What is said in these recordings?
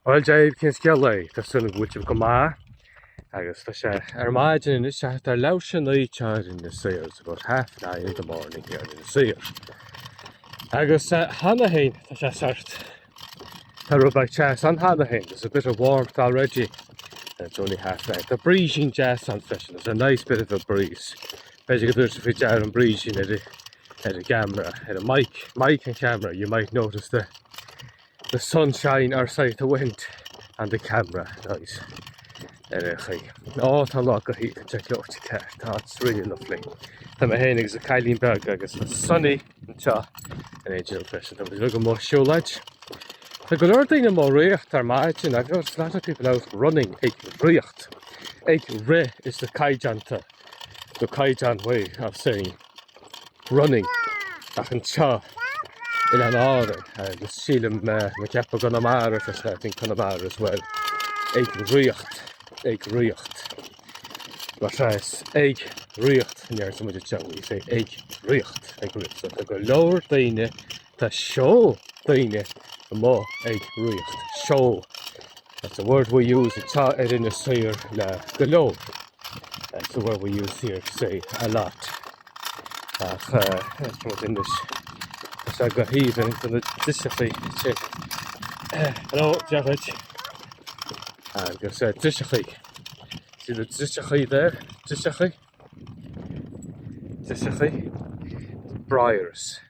Bhuel deir cén scéal é, tá súil agam go bhfuil sibh go maith agus tá sé ar maidin anois thart ar leathuair tar éis a naoi anseo in Inis Oírr, it's about half nine in the morning here in Inis Oírr. Agus cheana féin tá sé sórt, tá rud beag teas ann cheana féin, there's a bit of warmth already and it's only half nine. Tá brísín deas ann freisin, there's a nice bit of a breeze. B'fhéidir go dtabharfaidh faoi deara an brísín ar an gceamara, ar an mic, mic an cheamara, you might notice the The sunshine or sorry the wind on the camera noise ar aon chaoi. Á tá an lá go haoibhinn ag Lorty Kerr, tá it's really lovely. Tá mé féin agus an cailín beag agus tá sunny anseo in éindí linn freisin. Tá muid amuigh ag siúlóid. Tá go leor daoine amuigh ag riocht ar maidin agus there's a lot of people out running ag riocht, ag rith is the caighdeánta, the caighdeán way of saying running ach anseo in Oileáin Árann is sílim tá mé ag ceapadh i gConamara cos I think Conamara as well ag riocht ag riocht mar sin is ag riocht a deireann muid anseo you say ag riocht ag riocht so go leor daoine Tá seol daoine amuigh ag ríocht. Seol, that's a word we use anseo ar Inis Oírr le go leor. That's a word we use here to say, a lot. Ach eh, from within this, tá sé go haoibhinn do na driseachaí te. Hello, Jared. Agus eh, driseachaí. See the driseachaí there? Driseachaí? Driseachaí? Briars.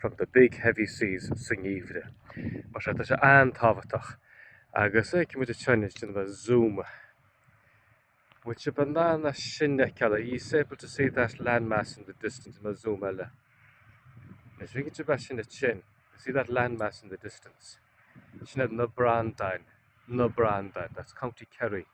from the big heavy seas sa ngeimhreadh. Mar sin tá sé an-tábhachtach agus feicfidh muid an tSeanad sin le zoom. An bhfuil sibh in ann é sin a fheiceáil, are ye able to see that land mass in the distance déanfaidh mé zoom eile? Le bheith cinnte go mbeidh sibh in ann, to see that land mass in the distance. Sin iad na Breandáin, na Breandáin, that's County Kerry.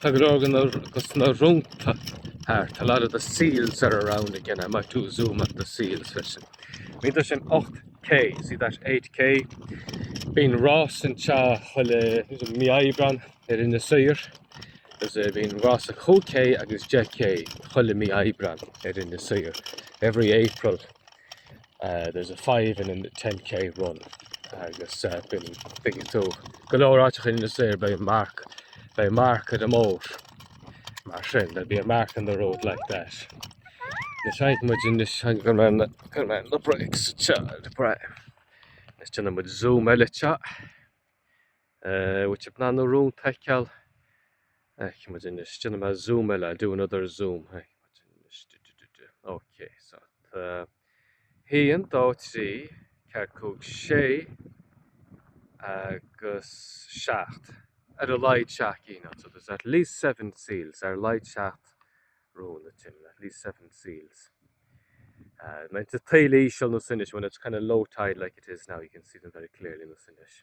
Tá go leor go sna rónta thart, a lot of the seals are around again. I might do a zoom on the seals freisin. Bhfeiceann tú sin 8K, see that 8K? Bíonn rás anseo chuile mí Aibreán ar Inis Oírr, agus eh, bíonn rás 5K agus 10K chuile mí Aibreán ar Inis Oírr, every April. Uh, there's a five and a 10k run agus uh, bin bigin tú go leráte in sé bei mark bei mark a mór mar sin be bí a mark in the road like that. Na seit mu in is an gur man gur man le breaks child bre. Is tena mu zoom eile chat An bhfuil sibh in ann na rónta a fheiceáil Feicfidh muid anois déanfaidh mé zoom eile I'll do another zoom Feicfidh muid anois du du du du Ok so tá a haon dó trí ceathair cúig sé agus seacht ar a laghad seacht gcinn anseo there's at least seven seals ar a laghad seacht rón a Tim at least seven seals Tá taoille íseal ar nós anois when it's kind of low tide like it is now you can see them very clearly ar nós anois.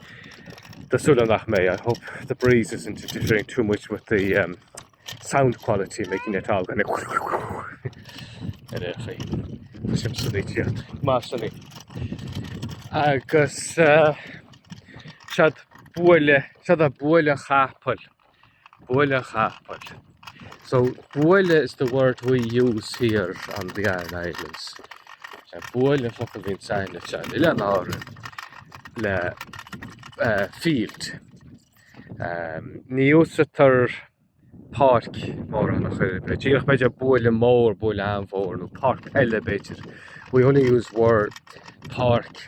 Tá súil agam nach mbeidh. I hope the breeze isn't interfering too much with the um, sound quality, making it all kind of ar aon chaoi. Tá sim sunnaí tíocht. Má sunnaí. Agus uh, seod buaile, seod é buaile chapaill. Buaile capaill. So, buaile is the word we use here on the Aran Islands. Buaile an focal a bhíonns againn anseo, in Oileáin Árann, le field. Ní úsaidtear páirc mórán ach oiread. B'fhéidir, díreach b'fhéidir buaile mór, buaile an-mhór, nó páirc peile b'fhéidir. We only use word páirc.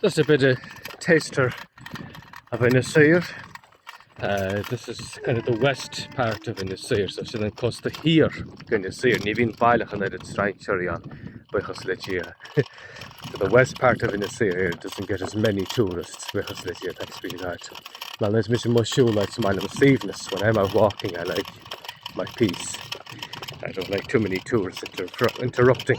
Just a bit of taster of Inis Oírr, this is kind of the west part of Inis Oírr, so sin an cósta thiar d'Inis Oírr, ní bhíonn baileach an oiread strainséirí ann buíochas le Dia, so the west part of Inis Oírr doesn't get as many tourists buíochas le Dia, thanks be to God. Nuair a bhíonn mise amuigh ag siúl is maith liom an suaimhneas, when I'm out walking I like my peace, I don't like too many tourists interrupting.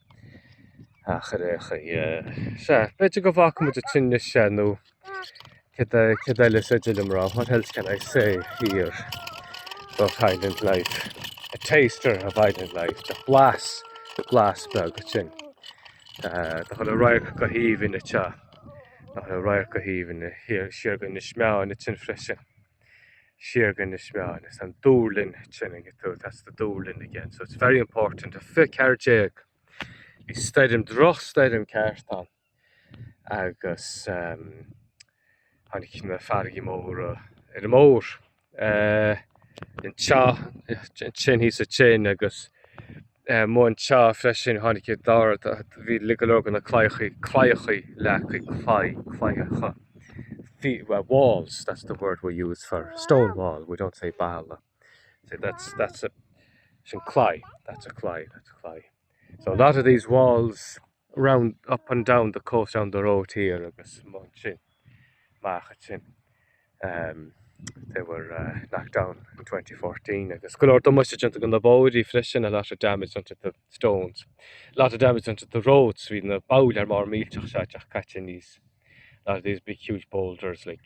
Ach ar aon chaoi, sea, b'fhéidir go bhfágfaidh muid ansin é anois. Céard eile is féidir liom a rá, what else can I say here about island life? A taster of island life, tá blas, blas beag ansin, tá chuile radharc go haoibhinn anseo, tá chuile radharc go haoibhinn, siar go Inis Meáin ansin freisin. siar go Inis Meáin. Is an duirling ansin ag tú, that's the duirling again, so it's very important. 2014. Bhí stoirm, drochstoirm ceart ann agus em tháinig na farraigí móra ar an mbóthar eh anseo, ansin thíos ansin agus, Mo anseo freisin tháinig an dara bhí go leor de na claíochaí claíochaí leagtha claí claíochaí walls that's the word we use for stone wall we don't say balla so that's that's a sin claí that's a claí that's a claí so a lot of these walls round, up and down the coast round the road here agus ansin amach ansin. Umm they were uh knocked down in 2014 agus go leor damáiste déanta do na bóithrí freisin a lot of damage done to the stones. A lot of damage done to the roads bhí na bolláin mhóra mhillteacha seo teacht caite aníos a lot of these big huge boulders like.